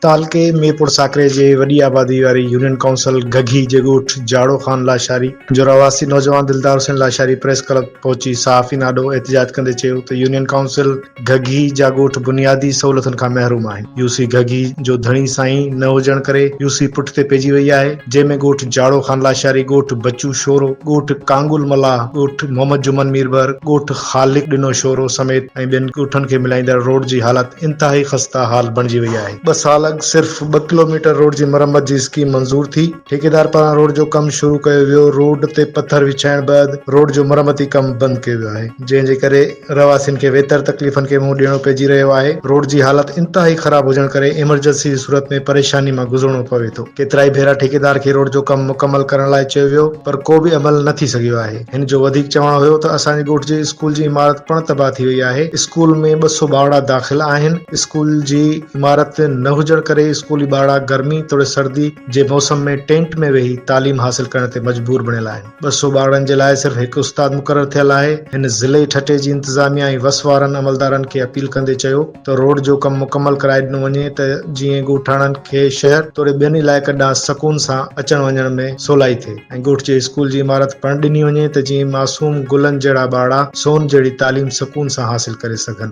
تعلقي ميرپور ساڪري جي وڏي آبادي واري يونين ڪائونسل گگهي جي ڳوٺ جاڙو خان لاشاري جو رهواسي نوجوان دلدار حسين لاشاري پريس ڪلب پهچي صحافين آڏو احتجاج ڪندي چيو ته يونين ڪائونسل گهگهي جا ڳوٺ بنيادي سهولتن کان محروم آهن، يو سي گهگهي جو ڌڻي سائين نه هجڻ ڪري يو سي پٺ تي پئجي وئي آهي، جنهن ۾ ڳوٺ جاڙو خان لاشاري، ڳوٺ بچو شورو، ڳوٺ ڪانگل ملاح، ڳوٺ محمد جمن ميربحر، ڳوٺ خالق ڏنو شورو سميت ۽ ٻين ڳوٺن کي ملائيندڙ روڊ جي حالت انتهائي خسته حال بڻجي وئي آهي. ٻه سال اڳ صرف ٻه ڪلوميٽر روڊ جي مرمت جي اسڪيم منظور ٿي، ٺيڪيدار پاران روڊ جو ڪم شروع ڪيو ويو، روڊ تي پٿر وڇائڻ بعد روڊ جو مرمتي ڪم بند ڪيو ويو آهي، جنهن جي ڪري. رهواسين کي ويتر تڪليفن کي منهن ڏيڻو پئجي رهيو آهي، روڊ جي حالت انتهائي خراب هجڻ ڪري ايمرجنسي جي صورت ۾ پريشاني مان گذرڻو پوي ٿو، ڪيترائي ڀيرا ٺيڪيدار کي روڊ جو ڪم مڪمل ڪرڻ لاء چيو ويو پر ڪو به عمل نه ٿي سگهيو آهي، هن جو وڌيڪ چوڻ هيو ته اسان جي ڳوٺ جي اسڪول جي عمارت پڻ تباهه ٿي وئي آهي، اسڪول ۾ ٻه سو ٻارڙا داخل آهن، اسڪول جي عمارت نه هجڻ ڪري اسڪولي ٻارڙا گرمي توڙي سردي جي موسم ۾ ٽينٽ ۾ ويهي تعليم حاصل ڪرڻ تي مجبور بڻيل آهن. ٻه سؤ ٻارڙن جي لاء صرف هڪ استاد مقرر ٿيل آهي، هن ضلعي ٺٽي جي انتظاميا ۽ وس وارن عملدارن کي اپيل ڪندي چيو ته روڊ جو ڪم مڪمل ڪرائي ڏنو وڃي ته جيئن ڳوٺاڻن کي شهر توڙي ٻين علائقن ڏانهن سڪون سان اچڻ وڃڻ ۾ سولائي ٿئي ۽ ڳوٺ جي اسڪول جي عمارت پڻ ڏني وڃي ته جيئن معصوم گلن جهڙا ٻارڙا سون جهڙي تعليم سڪون سان حاصل ڪري سگهن.